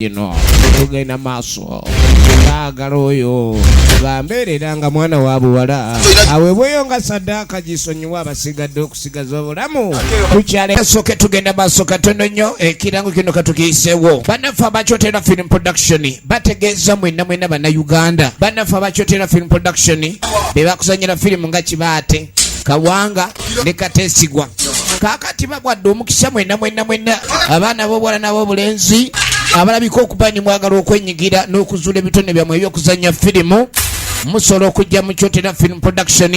ino tugenda maaso baagala oyo bambeerera nga mwana wa buwala aweebweyo nga saddaaka gisonyiwa abasigadde okusigaza obulamu tukyalesoke tugenda maaso katono nnyo ekirango kino katukiyiseewo bannaffe abakyotera film production bategeeza mwenna mwenna bannayuganda bannaffe abakyotera film production be bakuzanyira firimu nga kibaate kawanga ne katesigwa kakati bagwadde omukisa mwena mwena mwena abaana bobwala nabobulenzi abalabika okuba ni mwagala okwenyigira n'okuzuula ebitone byammwe ebyokuzanya firimu musobola okujja mu kyotera film production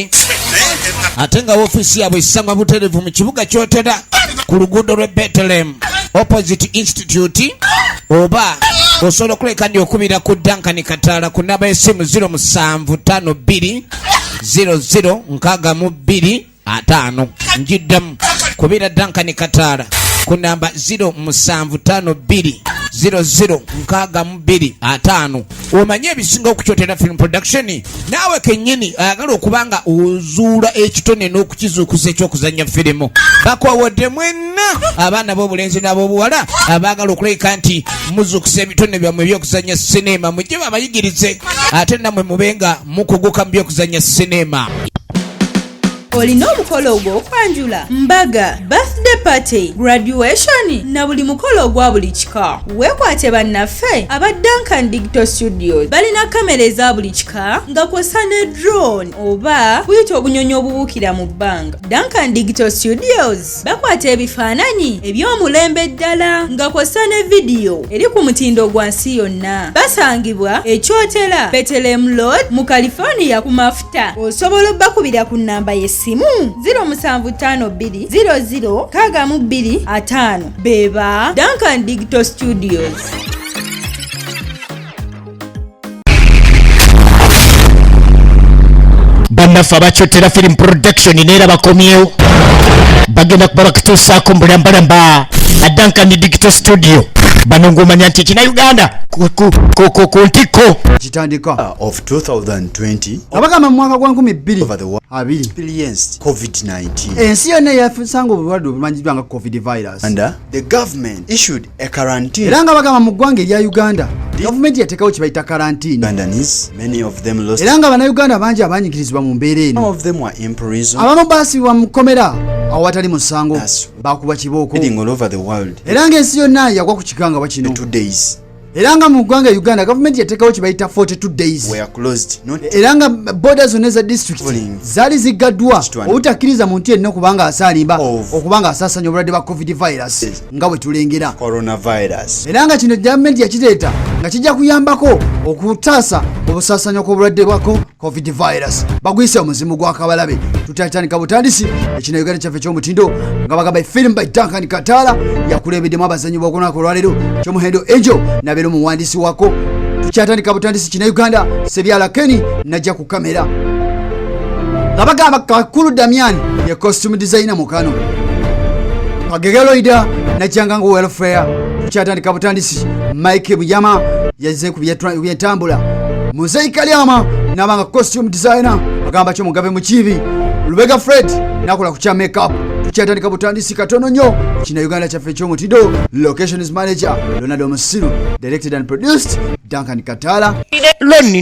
ate nga ofiisi yaabwe esangwa buterevu mu kibuga kyotera ku luguudo lwe betelem opposite institute oba osobola okuleka ndi okubira ku dankani kataala ku naba esimu 0 7 5 2 00 nkaaga mu bbiri ataano njiddamu kubira dankani kataala ku namba 0 musanvu taano bbiri 00 nkaaga mu bbiri ataano omanye ebisinga okukyotera film production naawe kennyini ayagala okuba nga ozuula ekitone n'okukizuukuza ekyokuzannya firimu bakowodde mwenna abaana b'obulenzi n'ab'obuwala abaagala okulabika nti muzuukusa ebitone byammwe ebyokuzannya sineema mujje babayigirize ate nammwe mube nga mukuguka mu byokuzannya sineema olina omukolo ogw'okwanjula mbaga birthday party graduation na buli mukolo ogwa buli kika weekwate bannaffe aba duncan digital studios balina kamera eza buli kika nga kwosa ne drone oba kuyita obunyonyi obubuukira mu bbanga duncan digital studios Bakwata ebifaananyi eby'omulembe ddala nga kw'ossa ne vidiyo eri ku mutindo gwa nsi yonna. Basangibwa e Kyotera, Bethlehem Road mu California ku mafuta. Osobola obbakubira ku nnamba y'essimu 0752 Beba Duncan Digital Studios. bannaffe abakyotera film production neera bakomyewo bagenda kuba bakutuusaako mbulambalamba addankani digital studio bano ng'omanya nti ekina uganda ku ntikko kitandika ah, of 2020 abagamba mu mwaka gwa 2220 ensi yonna yafusanga obulwadde obumanyiddwa nga covid virus and uh, the government issued E era nga bagamba mu ggwanga erya uganda gavumenti yateekawo kibayita karantiini era nga bannayuganda bangi abanyigirizibwa mu mbeera eno abamu baasibibwa mu kkomera awo watali musango bakuba kibooko era ng'ensi yonna yagwa ku kikangabwa kino era nga mu ggwanga uganda gavumenti yateekawo kibayita 42 days era nga boda zonna eza district zaali ziggaddwa obutakkiriza muntu yenna okubanga asaalimba okubanga asaasanya obulwadde bwa covid virus nga bwe tulengera coronavirus era nga kino gavumenti yakireeta nga kijja kuyambako okutaasa obusaasanyo kw'obulwadde bwako covid virus bagwise omuzimu gwa kabalabe tutatandika butandisi ekino uganda kyaffe ky'omutindo nga bagamba efirimu by duncan kataala yakulembeddemu abazanyi b'okunaku olwaleero kyomuhendo angel nabeera omuwandiisi wako tukyatandika butandisi kina uganda sebyala keni najja ku kamera nga bagamba kakulu damian ye costume designer mukano kagegeloida najanga nga welfare tukyatandika butandisi mike bujama yazze ku byentambula muzeyi kalyama nabanga costume designer agamba kyo mugabe mukiibi lubega fred nakola ku kya makeup tukyatandika butandisi katono nnyo kina uganda kyaffe ekyomutido locations manager leonardo musiru directed and produced duncan katala lonni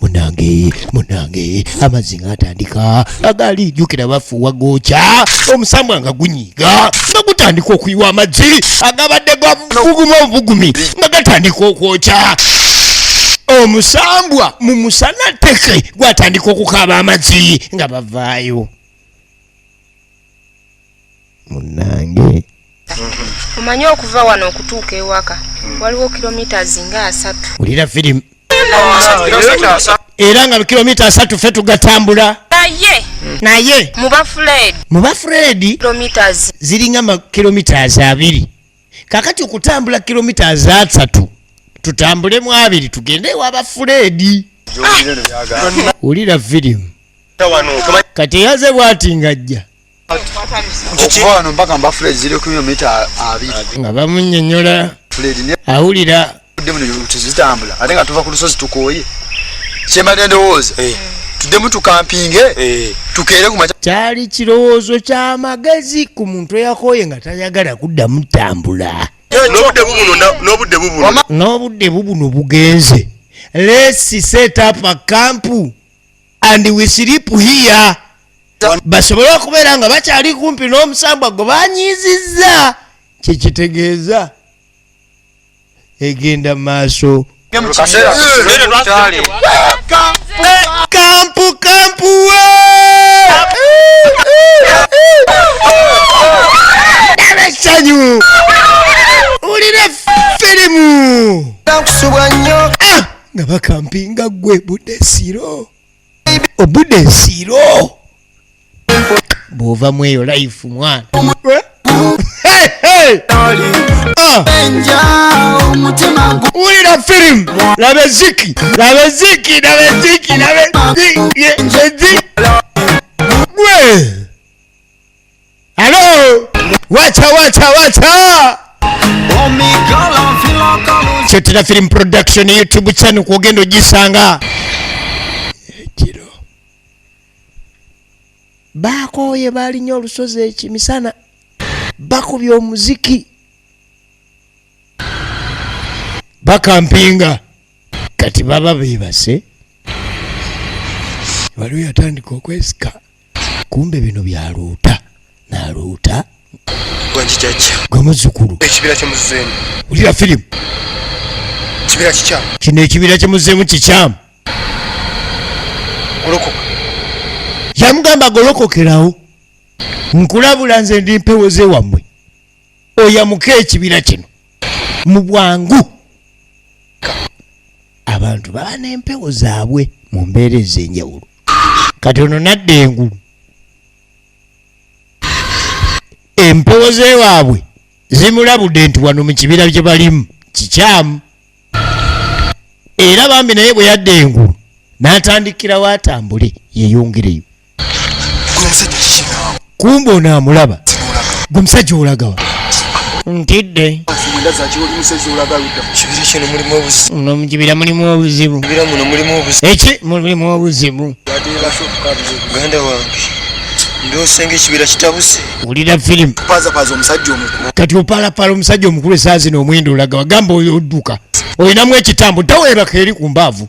munange munange amazzi ngaatandika agaali jukira bafuuwa gookya omusambwa nga gunyiiga nga gutandika okuyiwa amazzi agabadde gaguguma obugumi nga gatandika okwokya omusambwa mu musana teke gwatandika okukaaba amazzi nga bavaayo munnange omanyi okuva wano okutuuka ewaka waliwo kilometres nga asatu wulira firimu era nga kilomita asatu fe tugatambula naye naye muba fred muba fred ziringa makilomitas abiri kakati okutambula kilomita azasatu tutambule mu abiri tugende ewaba fuleedi wulira vidiyo kati eyaze bwati ngajja nga bamunyonyola awulira tuzitambula ate nga tuva ku lusozi tukooye kyemade ndowooza eh. tuddemu tukampinge eh. tukeere kuma kyali kirowoozo kyamagezi ku muntu eyakooye nga tayagala kuddamu tambula n'obudde bubuno bugenze lesi set up a camp and we sleep here basobole okubeera nga bakyali kumpi n'omusambwa gwe banyiizizza kyekitegeeza egenda maaso kampu kampu esanyu ulira firimu ah! nga bakampinga gwe budesiro obude nsiro bwova mweyo life mwana wulira firimu laba eziki laba eziki laba eziki laba eziki gwe Alo! Wacha wacha wacha! Kyotera Film Production YouTube channel kwogenda ogisanga. Ekiro. Bakooye balinye olusozi ekimisana. Bakubye omuziki. Bakampinga. Kati baba bebase. Waliwo yatandika okwesika. kumbe bino byaluuta naluuta gwe muzukulu ekibira kyemuzeemu ulira firimu kibira kikyamu kino ekibira kyemuzeemu kikyamu golokoka yamugamba golokokerawo nkulabula nze ndi mpewo zewammwe oyamuka ekibira kino mu bwangu abantu baba n'empewo zaabwe mu mbeera ez'enjawulo kati ono nadda engulu empewo zewaabwe zimulabudde nti wano mu kibira gye balimu kikyamu era bambi naye bwe yadda engulu n'atandikirawo atambule yeyongereyo kumba onaamulaba gwe musajja olagawa ntidde nomukibira mulimu obuzibu eki mulimu obuzibu ganda wange ndosenga ekibira kitabuse wulira firimu pazapaza omusajja omukulu kati opalapala omusajja omukulu esaazi noomwenda olagawa gamba odduka olinamu ekitambo taweebaka eri ku mbaavu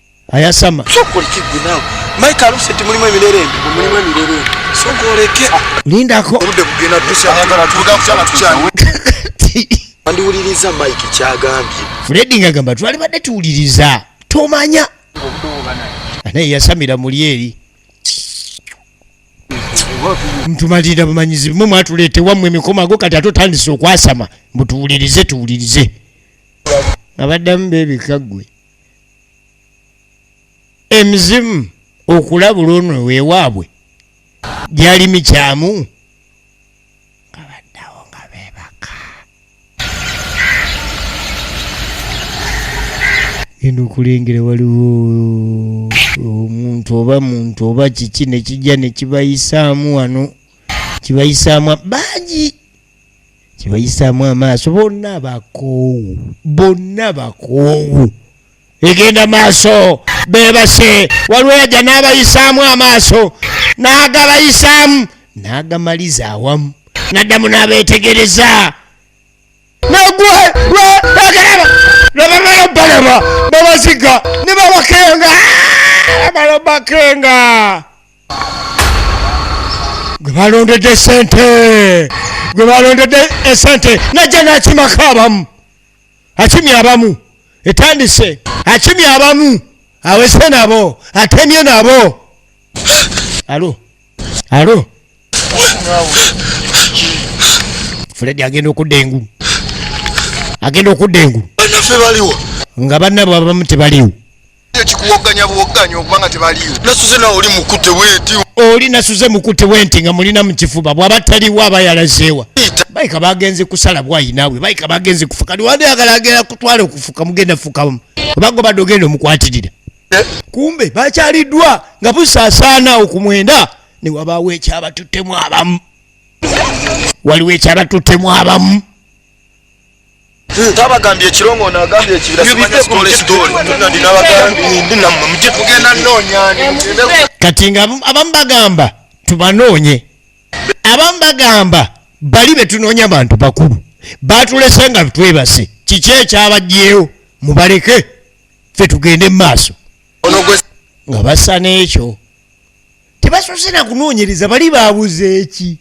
ayasama lindako fredi nga gamba twali badde tuwuliriza tomanya naye yasamira muli eri ntumalirira bumanyizi bimwe mwatuleete wammwe emikoma ago kati ate otandise okwasama mbutuwulirize tuwulirize abaddamu bebikaggwe emizimu okulabula ono wewaabwe gyali mikyamu genda okulengera waliwo omuntu oba muntu oba kiki nekijja nekibayisaamu wano kibayisaamu bangi kibayisaamu amaaso bonna bakoowu bonna bakoowu egenda maaso bebase waliwo yajja n'abayisaamu amaaso n'agabayisaamu n'agamaliza awamu naddamu n'abeetegereza nagwe lwageraba lwebamala balaba babaziga ne babakenga ah, bamala bakenga gwe balondedde sente gwe balondedde esente eh, najja nakimako abamu akimye abamu etandise akimye abamu awese nabo atemye nabo alo alo fredi agenda okudda engulu agenda okudda engulu nga banna bwabamu tebaliwo ekikuwogganya buwogganya okuba nga tebaliwo nasuze nawe oli mukute wenti oli nasuze mukute wenti nga mulina mu kifuba bwaba taliwo aba yalazeewa bayika bagenze kusala bwayinaawe bayika bagenze kufuka niwanda yagala agenda kutwala okufuka mugenda fukamu obago badde ogenda omukwatirira eh? kumbe bakyaliddwa nga busaasaana okumwenda newabaawo ekyabatuttemu abamu waliwo ekyabatuttemu abamu tabagambye ekirungo nagambye ekibiraakati nga abamu bagamba tubanoonye abamu bagamba bali betunoonya bantu bakulu batulese nga twebase kiki ekyabajjeewo mubaleke fe tugende mu maaso nga basa n'ekyo tebasose na kunoonyereza bali babuze eki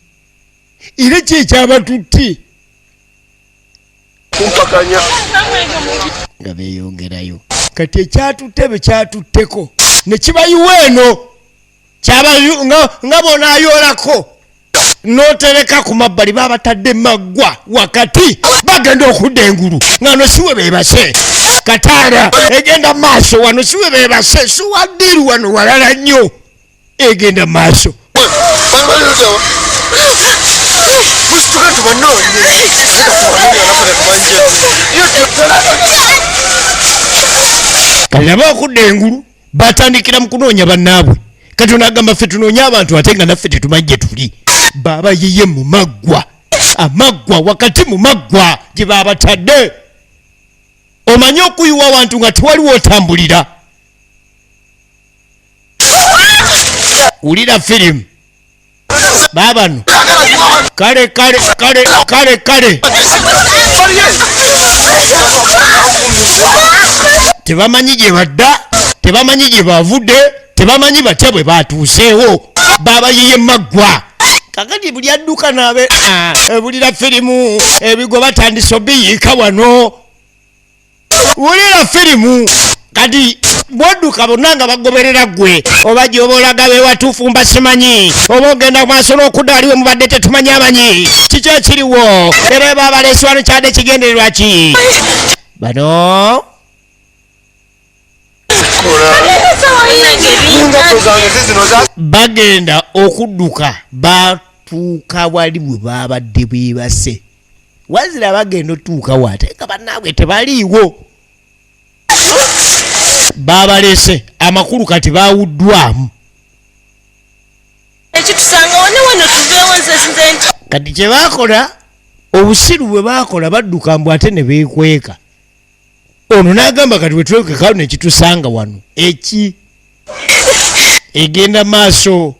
era kyekyabatutti kumpakanya nga beyongerayo kati ekyatutte bwe kyatutteko ne kibayiwa eno nga bonayoolako n'otereka ku mabbali babatadde maggwa wakati bagenda okudda engulu nga no siwe bebase kataala egenda maaso wano siwe bebase siwaddiru wano walala nnyo egenda maaso kati nabo okudda engulu batandikira mu kunoonya bannaabwe kati onagamba ffe tunoonya abantu ate nga naffe tetumajje tuli baaba yiye mu maggwa amaggwa wakati mu maggwa gye baabatadde omanye okuyiwa wantu nga tewaliwo otambulira wulira firimu babano kale kale kale kale kale tebamanyi gye badda tebamanyi gye bavudde tebamanyi batya bwe batuuseewo babayiye maggwa kakati buli adduka naabe ah, ebulira firimu ebigo batandise obiyiika wano wulira firimu kati bwodduka bonna nga bagoberera ggwe oba gyoba olaga bewatuufu mba simanyi oba ogenda maaso n'okudda waliwe mubadde tetumanyi amanyi kiki ekiriwo era eba abaleesibano kyadde ekigendererwa ki bano bagenda okudduka batuuka wali bwe babadde bwebase wazira bagenda otuuka wate nga banaabwe tebaliiwo babalese amakulu kati bawuddwamu kati kyebakola obusiru bwe bakola badduka mbu ate ne beekweka ono nagamba kati wetwekeka nekitusanga wano eki egenda maaso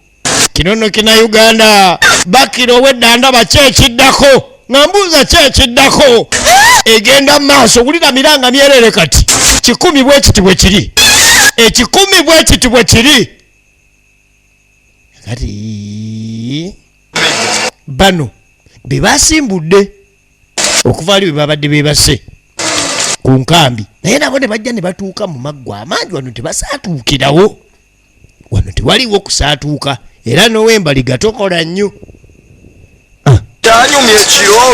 kinono kina uganda bakira owedda ndaba kyekiddako nga mbuuza kyekiddako egenda maaso wulira miranga myerere kati kikumi bwekiti bwekiri ekikumi bwekiti bwekiri kati bano bebasimbudde okuva ali bebabadde bebase ku nkambi naye nabo ne bajja ne batuuka mu maggwa amangi wano tebasaatuukirawo wano tewaliwo kusaatuuka era nowembaliga tokola nnyo kyanyumya ekiro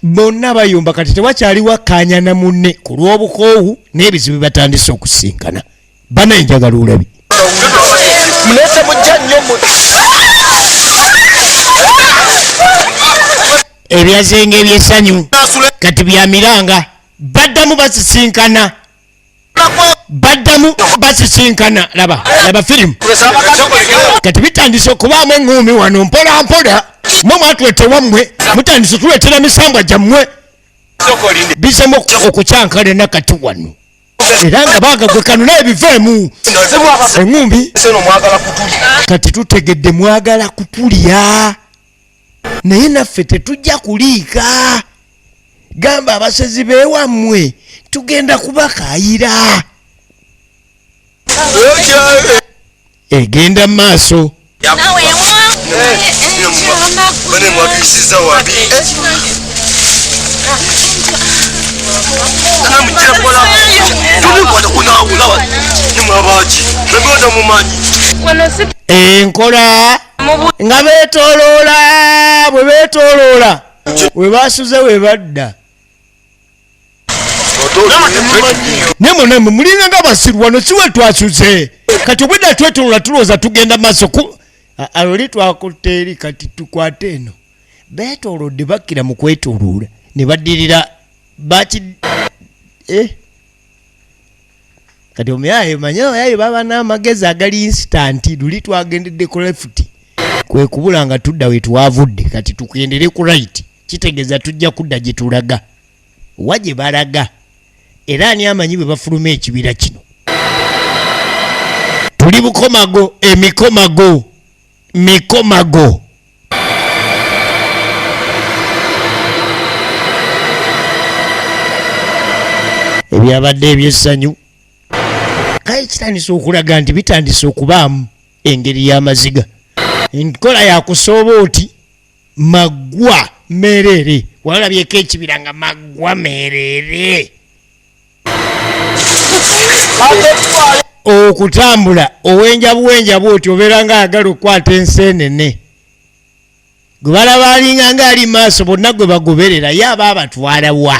bonna bayumba kati tewakyaliwo akkaanya na munne ku lw'obukoowu n'ebizibu bibatandise okusinkana bana enjagala olabi mulete mujja nnyo ebyazenga ebyesanyu kati byamiranga baddamu basisinkana baddamu basisinkana laba laba firimu kati bitandise okubaamu eŋŋuumi wano mpola mpola mwe mwatulete wammwe mutandise tuletera misambwa gyammwe bizemu okukyankala enakati wano era nga bagagwekanula ebiveemu eŋumbi kati tutegedde mwagala kutulya naye naffe tetujja kuliika gamba abasezi bewammwe tugenda kubakayira egenda mu maaso enkola nga betoloola bwe betoloola we basuze we badda naye munamwe mulinga nga basiru wano siwe twasuze kati obwedda twetolola tulowooza tugenda maaso ku aloli twakutte eri kati tukwate eno betolodde bakkira mu kwetoluula ne baddirira baki eh? kati omuyaye manye oyaye baba n'amagezi agali insitanti luli twagendedde ku lefuti kwe kubula nga tudda we twavudde kati tugendere ku rayiti kitegeza tujja kudda gye tulaga wa gye balaga era ani amanyi bwe bafuluma ekibira kino tuli bukomago emikomago mikomago ebyabadde ebyessanyu kale kitandise okulaga nti bitandise okubaamu engeri y'amaziga enkola yakusooba oti maggwa merere walabyeko ekibira nga maggwa merere okutambula owenja buwenja bwoti obeera nga ayagala okukwata ensi enene gwe balaba alinga nga ali maaso bonna gwe bagoberera ye aba abatwala wa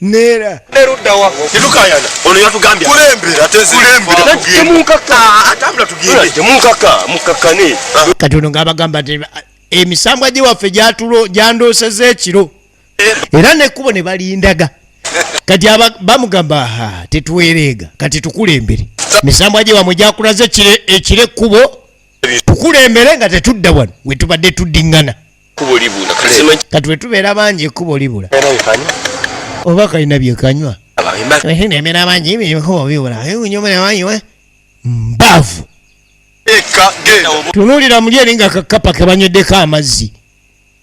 neera neruddawa tetukayana ono yatugambye kulembera temunkaka atambula tugende munkaka mukakkane kati ono ng'abagamba nti emisambwa gye waffe gyatulo gyandooseza ekiro eh. era nekkubo ne balindaga kati bamugamba ha tetwereega kati tukulembere misambwa gye wamwe gyakulaze ekiro ekkubo tukulembere nga tetudda wano wetubadde tuddiŋŋana kubo libula kati wetubeera bangi ekkubo libula oba kalina byekanywa ebeera bangi ebikubo bibula eunyomunewanyiwe mbavu tunulira muli eri nga kakapa kebanywedeko amazzi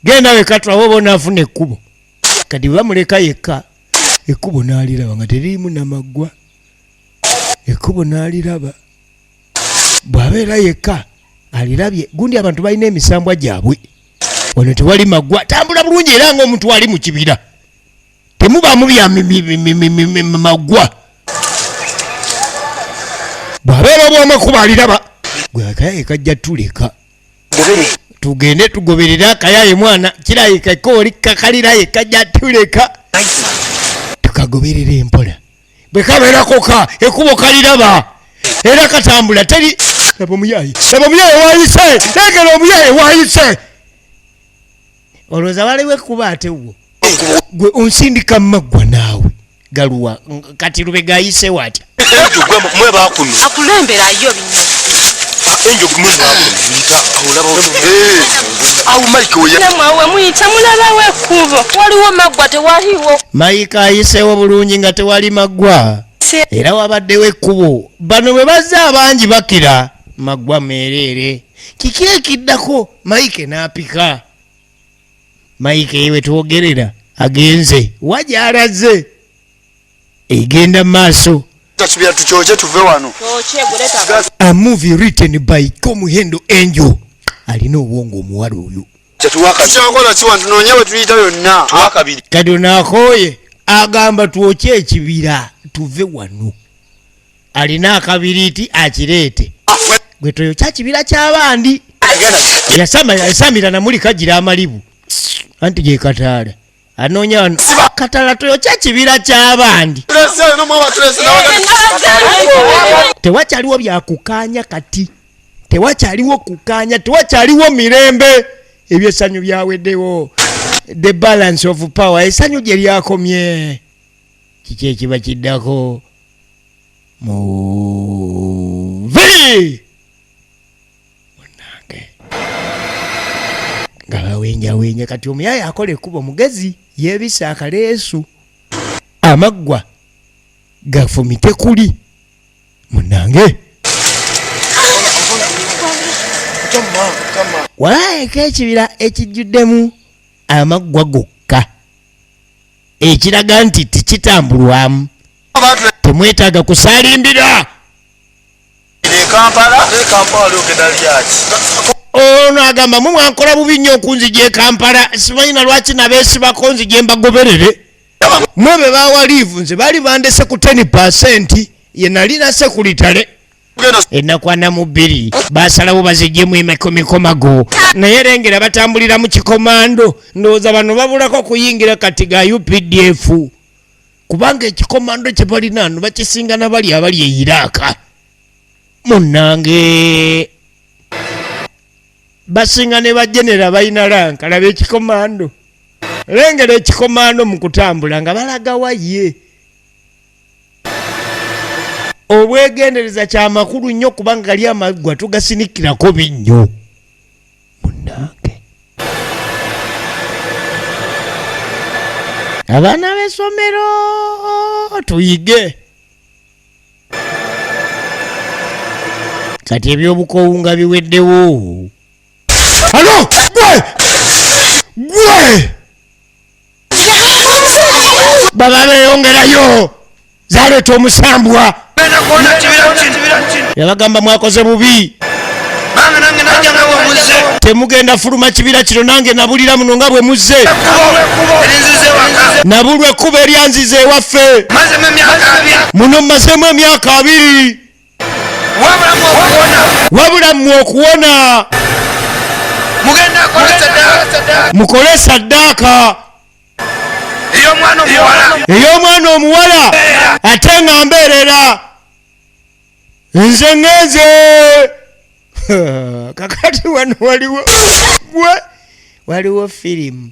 genda wekatulawo oba onaafuna ekkubo kati bwebamuleka yekka ekkubo naaliraba nga teririmu namaggwa ekkubo naaliraba bwabeera yekka alirabye gundi abantu balina emisambwa gyabwe wano tewali magwa tambula bulungi era nga omuntu ali mukibira temubamu byamagwa bwabeera obwamakuba aliraba gwe akayaye kajja tuleka tugende tugoberere akayaye mwana kirayika kooli kakaliraye kajja tuleka tukagoberera empola bwe kabeera koka ekubo kaliraba era katambula teri laba omuyaye laba omuyaye wayise legera omuyaye wayise olowooza waliwo ekkuba ate wo gwe onsindika mumaggwa naawe galuwa kati lube gayisewo atya mwe bakuno akulemberayo enjo kumwezi wako muyita olaba eh au mike oya namwe awe muyita mulaba we kubo waliwo magwa tewaliwo mike ayisewo bulungi nga tewali magwa era wabaddewo ekkubo bano bwe bazze abangi bakira magwa meereere kiki ekiddako mike n'apika mike yewe twogerera agenze wagyalazze egenda mu maaso tasubira tukyoke tuve wano a movie written by komuhendo angel alina obwongo omuwala oyo kati onakoye agamba twokye ekibira tuve wano alina akabiriti akireete gwe toyo kyakibira kyabandi yasamira namuli kagira amalibu anti gekataala anoonya wano katala toyokya kibira ky'abandi tewakyaliwo byakukaanya kati tewakyaliwo kukaanya tewakyaliwo mirembe ebyesanyu byaweddewo the balance of power esanyu gye lyakomye kiki ekiba kiddako muvi nga bawenjawenja kati omuyaya akola ekkubo mugezi yebisa akaleesu amaggwa gafumite kuli munange walaayeko ekibira ekijjuddemu amaggwa gokka ekiraga nti tikitambulwamu temwetaaga kusaalimbira ono agamba mwe mwankola bubi nnyo okunzija ekampala sibalina lwaki nabeesibako nzije mbagoberere mwe be bawa liivu nze baali bandese ku 10 pasenti ye nalina sekuritale enakwana mu bbiri basalawo bazijemu emikomago naye lengera batambulira mu kikomando ndowooza bano babulako kuyingira kati ga updf kubanga ekikomando kye balina no bakisinga na bali abali e iraaka munnange basinga ne bajenera balina lanka laba ekikomando lengera ekikomando mu kutambula nga balagawa ye obwegendereza kyamakulu nnyo kubanga gali amaggwa tugasinikirako binnyo munnange. abaana b'essomero tuyige kati ebyobukowu nga biweddewo alo gwe gwe baba beyongerayo zaleeta omusambwa yabagamba mwakoze bubi temugenda fuluma kibira kino nange nabulira muno nga bwe muzze nabulwa ekkuba eryanziza ewaffe muno mumazemu emyaka abiri wabula mmwe okuwona mukole saddaaka ey'omwana omuwala ate nga mbeerera nze ngenze kakati wano waliwo gwe waliwo firimu